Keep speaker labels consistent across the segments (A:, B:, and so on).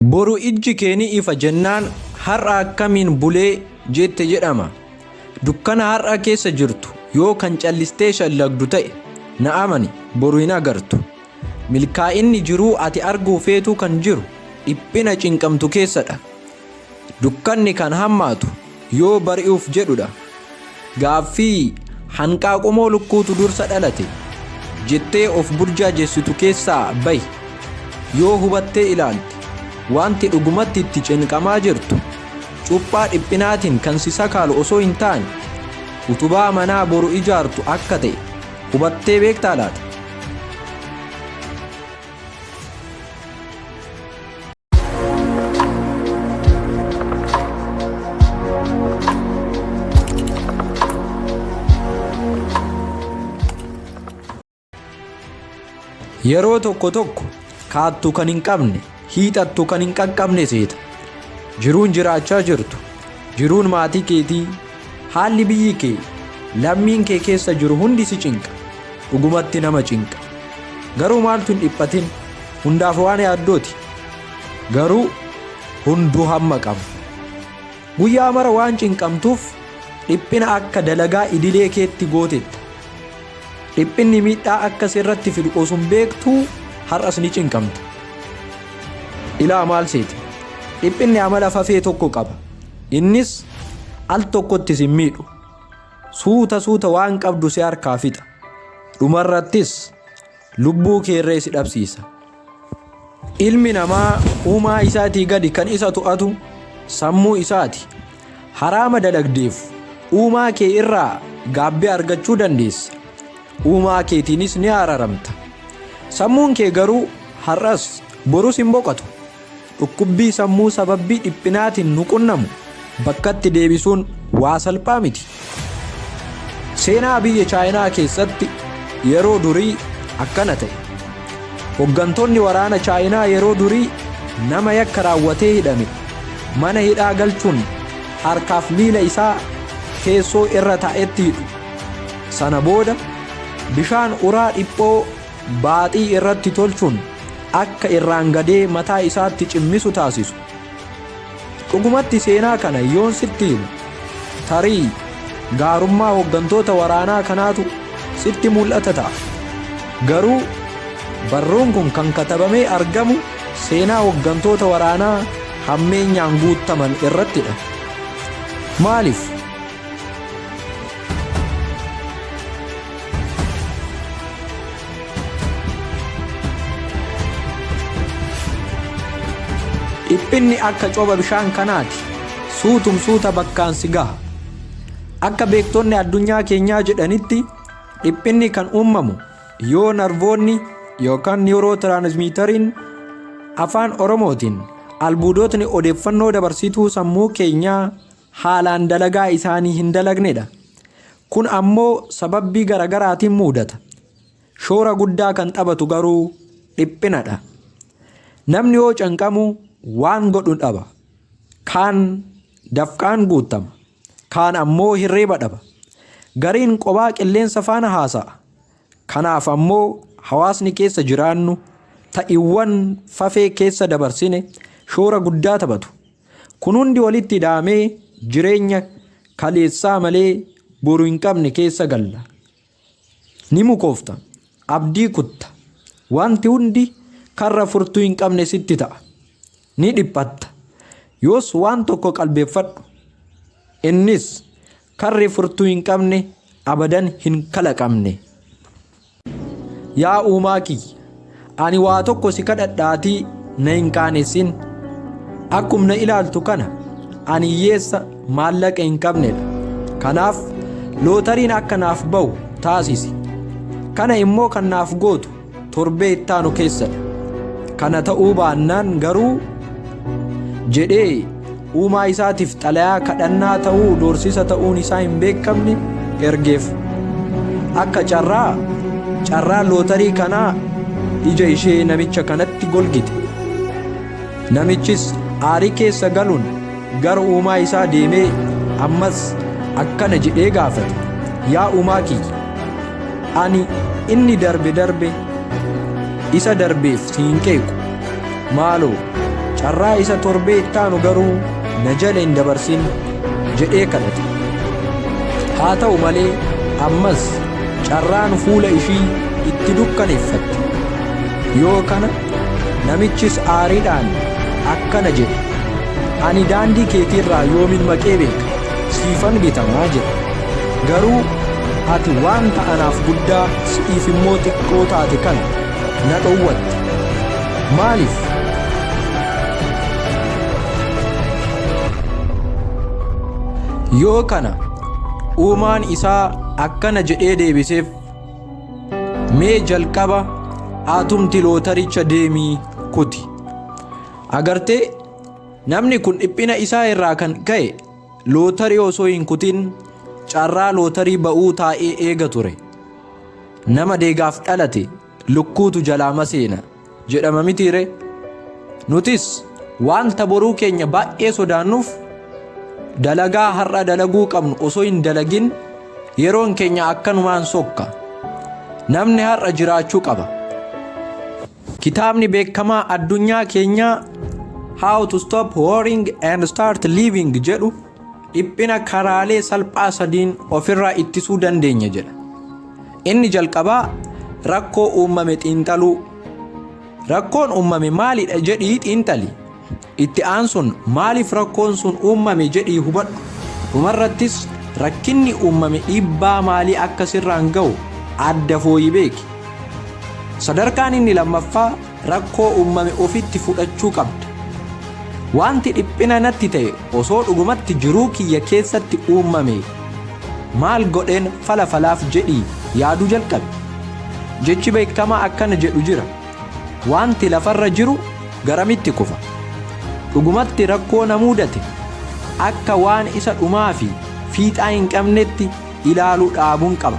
A: Boru ijji kee ni ifa jennaan har'a akkamiin bulee jette jedhama. Dukkana har'a keessa jirtu yoo kan callistee shallagdu ta'e na amani boru hin agartu. Milkaa'inni jiruu ati arguu feetuu kan jiru dhiphina cinqamtu keessadha. Dukkanni kan hammaatu yoo bari'uuf jedhudha. Gaaffii, Hanqaaqumoo lukkuutu dursa dhalate? jettee of burjaajessitu keessaa bahi. Yoo hubattee ilaalte, wanti dhugumatti itti cinqamaa jirtu cuphaa dhiphinaatiin kan si sakaalu osoo hin taane, utubaa manaa boru ijaartu akka ta'e hubattee beektaa laata? Yeroo tokko tokko kaattu kan hin qabne hiixattu kan hin qaqqabne seeta. Jiruun jiraachaa jirtu jiruun maatii keetii Haalli biyyi kee, lammiin kee keessa jiru hundi si cinqa. Dhugumatti nama cinqa. Garuu maaltu hin dhiphatin? Hundaaf waan yaaddooti. Garuu hunduu hamma qaba. Guyyaa mara waan cinqamtuuf dhiphina akka dalagaa idilee keetti gootetta. Dhiphinni miidhaa akka sirratti fidu osoo hin beektuu har'as ni cinqamta. Ilaa maal seete? Dhiphinni amala fafee tokko qaba. Innis al tokkotti sin miidhu. Suuta suuta waan qabdu si harkaa fixa. Dhumarrattis lubbuu keerree si dhabsiisa. Ilmi namaa uumaa isaatii gadi kan isa to'atu sammuu isaati. Haraama dalagdeef uumaa kee irraa gaabbii argachuu dandeessa. Uumaa keetiinis ni araramta. Sammuun kee garuu har'as borus hin boqotu. Dhukkubbii sammuu sababbii dhiphinaatiin nu qunnamu bakkatti deebisuun waa salphaa miti. Seenaa biyya Chaayinaa keessatti yeroo durii akkana ta'e. Hoggantoonni waraana Chaayinaa yeroo durii nama yakka raawwatee hidhame mana hidhaa galchuun harkaaf miila isaa teessoo irra taa'etti hidhu. Sana booda bishaan uraa dhiphoo baaxii irratti tolchuun akka irraan gadee mataa isaatti cimmisu taasisu. Dhugumatti seenaa kana yoon sitti himu tarii gaarummaa hoggantoota waraanaa kanaatu sitti mul'ata ta'a. Garuu barruun kun kan katabamee argamu seenaa hoggantoota waraanaa hammeenyaan guuttaman irrattidha. Maaliif? Dhiphinni akka cooba bishaan kanaati. Suutum suuta bakkaan si gaha. Akka beektonni addunyaa keenyaa jedhanitti dhiphinni kan uumamu yoo narvoonni yookaan niwurootiraanismiitariin afaan Oromootiin albuudotni odeeffannoo dabarsituu sammuu keenyaa haalaan dalagaa isaanii hin dalagnedha. Kun ammoo sababbii garagaraatiin muudata. Shoora guddaa kan taphatu garuu dhiphinadha. Namni yoo canqamu waan godhu dhaba. Kaan dafqaan guuttama. Kaan ammoo hirriiba dhaba. Gariin qobaa qilleensa faana haasa'a. Kanaaf ammoo hawaasni keessa jiraannu ta'iwwan fafee keessa dabarsine shoora guddaa taphatu. Kun hundi walitti ida'amee jireenya kaleessaa malee boru hin qabne keessa galla. Ni mukoofta. Abdii kutta. Wanti hundi karra furtuu hin qabne sitti ta'a. Ni dhiphatta. Yoos waan tokko qalbeeffadhu. Innis Karri furtuu hin qabne abadan hin kalaqamne. Yaa uumaa kiyya, ani waa tokko si kadhadhaatii na hin qaanessin. Akkum na ilaaltu kana ani hiyyeessa maallaqa hin qabnedha. Kanaaf lootariin akka naaf ba'u taasisi. Kana immoo kan naaf gootu torbee ittaanu keessadha. Kana ta'uu baannaan garuu jedhee uumaa isaatiif xalayaa kadhannaa ta'uu doorsisa ta'uun isaa hin beekamne ergeef. Akka carraa carraa lootarii kanaa ija ishee namicha kanatti golgite. Namichis aarii keessa galuun Gara uumaa isaa deemee ammas akkana jedhee gaafate, Yaa uumaa kiyya, ani inni darbe darbe isa darbeef si hin qeequ. Maaloo, carraa isa torbee itti aanu garuu na jala hin dabarsin jedhee kadhate. Haa ta'u malee ammas carraan fuula ishii itti dukkaneeffatte. Yoo kana Namichis aariidhaan akkana jedhe, Ani daandii keetiirraa yoomin maqee beeka, siifan bitamaa jedhe. Garuu ati wanta anaaf guddaa si'iif immoo xiqqoo taate kana na dhowwatte. Maaliif? Yoo kana uumaan isaa akkana jedhee deebiseef. Mee jalqaba atumti lootaricha deemii kuti. Agartee namni kun dhiphina isaa irraa kan ka'e lootarii osoo hin kutin carraa lootarii ba'uu taa'ee eega ture. Nama deegaaf dhalate lukkuutu jalaa maseena. jedhama mitii ree? Nutis wanta boruu keenya baay'ee sodaannuuf dalagaa har'a dalaguu qabnu osoo hin dalagin yeroon keenya akkanumaan sokka. Namni har'a jiraachuu qaba. Kitaabni beekamaa addunyaa keenyaa How to Stop Worrying and Start Living jedhu dhiphina karaalee salphaa sadiin ofirraa ittisuu dandeenya jedha. Inni jalqabaa rakkoo uummame xiinxaluu. Rakkoon uummame maalidha jedhii xiinxali. Itti aansuun maaliif rakkoon sun uummame jedhii hubadhu. Dhumarrattis rakkinni uummame dhiibbaa maalii akka sirraan ga'u adda fooyi beeki. Sadarkaan inni lammaffaa Rakkoo ummame ofitti fudhachuu qabda. Waanti dhiphina natti ta'e osoo dhugumatti jiruu kiyya keessatti uummamee maal godheen fala falaaf jedhii yaaduu jalqabi. Jechi beekkamaa akkana jedhu jira, Waanti lafarra jiru garamitti kufa? Dhugumatti rakkoo na muudate akka waan isa dhumaa fi fiixaa hin qabnetti, ilaalu dhaabuun qaba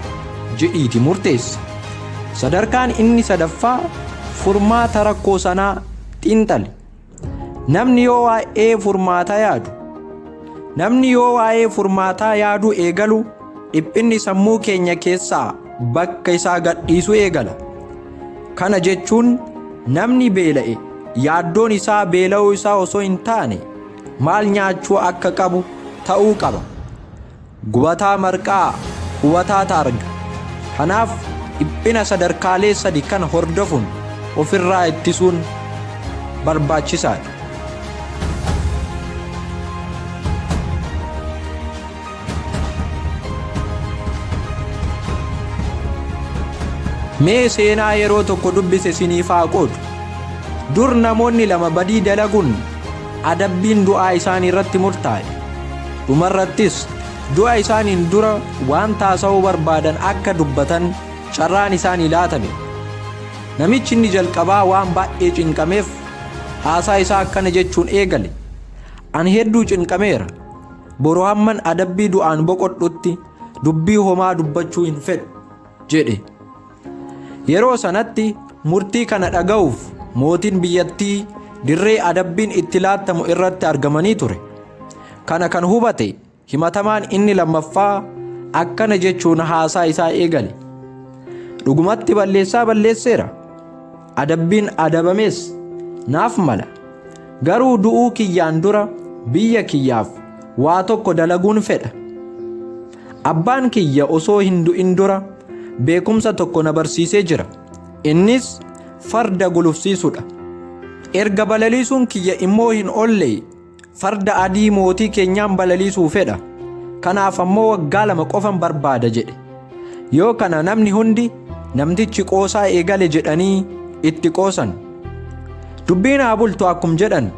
A: jedhiiti murteessi. Sadarkaan inni sadaffaa furmaata rakkoo sanaa xiinxali. Namni yoo waa'ee furmaataa yaadu Namni yoo waa'ee furmaataa yaaduu eegalu dhiphinni sammuu keenya keessaa bakka isaa gadhiisu eegala. Kana jechuun namni beela'e yaaddoon isaa beela'uu isaa osoo hin taane maal nyaachuu akka qabu ta'uu qaba. Gubataa marqaa, hubataa taarga. Kanaaf dhiphina sadarkaalee sadi kana hordofuun ofirraa ittisuun barbaachisaadha. Mee seenaa yeroo tokko dubbise siniif haa qoodu. Dur namoonni lama badii dalaguun adabbiin du'aa isaanii irratti murtaa'e. Dhumarrattis du'a isaaniin dura waan taasa'uu barbaadan akka dubbatan carraan isaanii laatame. Namichi inni jalqabaa waan baay'ee cinqameef haasaa isaa akkana jechuun eegale. Ani hedduu cinqameera. Boru hamman adabbii du'aan boqodhutti dubbii homaa dubbachuu hin fedhu jedhe. Yeroo sanatti murtii kana dhaga'uuf mootiin biyyattii dirree adabbiin itti laattamu irratti argamanii ture. Kana kan hubate himatamaan inni lammaffaa akkana jechuun haasaa isaa eegale. Dhugumatti balleessaa balleesseera. adabbiin adabamees naaf mala. Garuu du'uu kiyyaan dura biyya kiyyaaf waa tokko dalaguun fedha. Abbaan kiyya osoo hin du'in dura beekumsa tokko na barsiisee jira. Innis farda gulufsiisudha. Erga balaliisuun kiyya immoo hin oolle. Farda adii mootii keenyaan balaliisuu fedha. Kanaaf ammoo waggaa lama qofan barbaada jedhe. Yoo kana namni hundi namtichi qoosaa eegale jedhanii itti qoosan. Dubbiin haa bultu akkum jedhan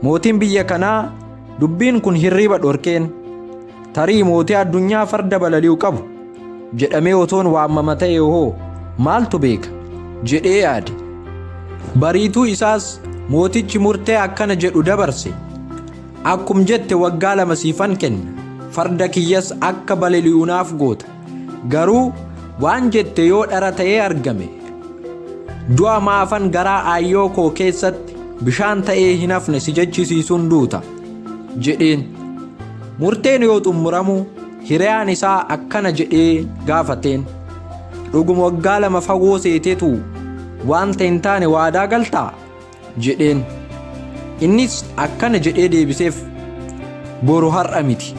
A: mootiin biyya kanaa dubbiin kun hirriiba dhorkeen. Tarii mootii addunyaa farda balali'u qabu jedhamee otoon waamama ta'e hoo maaltu beeka jedhee yaade. Bariituu isaas mootichi murtee akkana jedhu dabarse. Akkum jette waggaa lama siifan kenna, farda kiyyas akka balali'u naaf goota. Garuu waan jette yoo dhara ta'ee argame du'a maafan garaa aayyoo koo keessatti bishaan ta'ee hin hafne si jechisiisuun duuta jedheen. Murteen yoo xumuramu hiriyaan isaa akkana jedhee gaafateen. Dhuguma waggaa lama fagoo seeteetu wanta hin taane waadaa galtaa? jedheen. Innis akkana jedhee deebiseef, Boru har'a miti.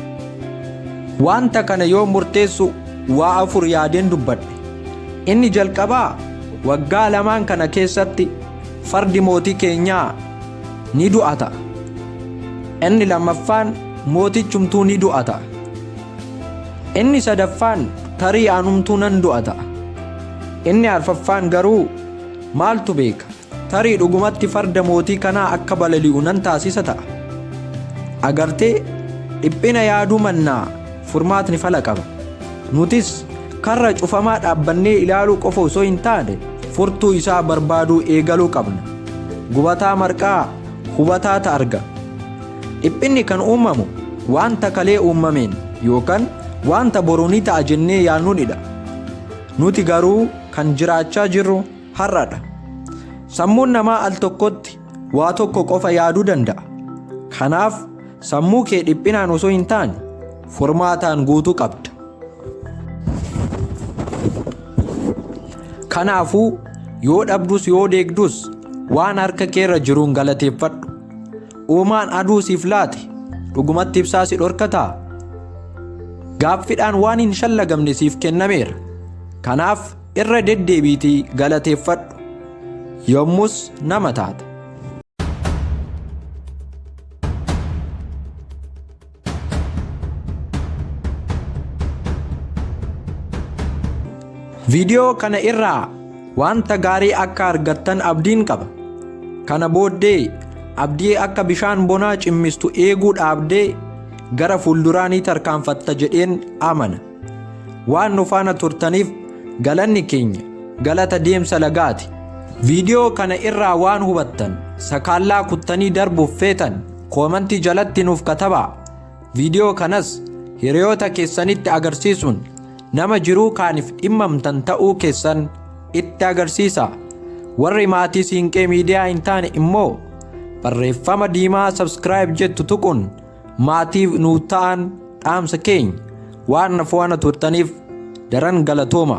A: Wanta kana yoo murteessu waa afur yaadeen dubbadhe. Inni jalqabaa waggaa lamaan kana keessatti fardi mootii keenyaa ni du'a ta'a. Inni lammaffaan mootichumtuu ni du'a ta'a. Inni sadaffaan tarii anumtuu nan du'a ta'a. Inni arfaffaan garuu maaltu beeka Tarii dhugumatti farda mootii kanaa akka balali'u nan taasisa ta'a. Agartee, dhiphina yaaduu mannaa furmaatni fala qaba. Nutis karra cufamaa dhaabbannee ilaaluu qofa osoo hin taane furtuu isaa barbaaduu eegaluu qabna. Gubataa marqaa hubataa ta arga. Dhiphinni kan uumamu wanta kalee uumameen yookaan wanta boru ni ta'a jennee yaadnuunidha. Nuti garuu kan jiraachaa jirru har'adha. Sammuun namaa al tokkotti waa tokko qofa yaaduu danda'a. Kanaaf sammuu kee dhiphinaan osoo hin taane furmaataan guutuu qabda. Kanaafuu yoo dhabdus yoo deegdus waan harka keerra jiruun galateeffadhu. Uumaan aduu siif laate dhugumatti ibsaa si dhorkataa? Gaaffidhaan waan hin shallagamne siif kennameera. Kanaaf Irra deddeebiitii galateeffadhu, yommus nama taata. Viidiyoo kana irraa wanta gaarii akka argattan abdiin qaba. Kana booddee abdii akka bishaan bonaa cimmistu eeguu dhaabdee gara fuulduraa ni tarkaanfatta jedheen amana. Waan nu faana turtaniif galanni keenya galata deemsa lagaati. Viidiyoo kana irraa waan hubattan sakaallaa kuttanii darbuuf feetan koomantii jalatti nuuf katabaa. Viidiyoo kanas hiriyoota keessanitti agarsiisuun nama jiruu kaaniif dhimmamtan ta'uu keessan itti agarsiisa. Warri maatii Siinqee Miidiyaa hin taane immoo barreeffama diimaa subscribe jettu tuquun Maatii nuuf ta'aan dhaamsa keenya waan na fo'ana turtaniif daran galatooma.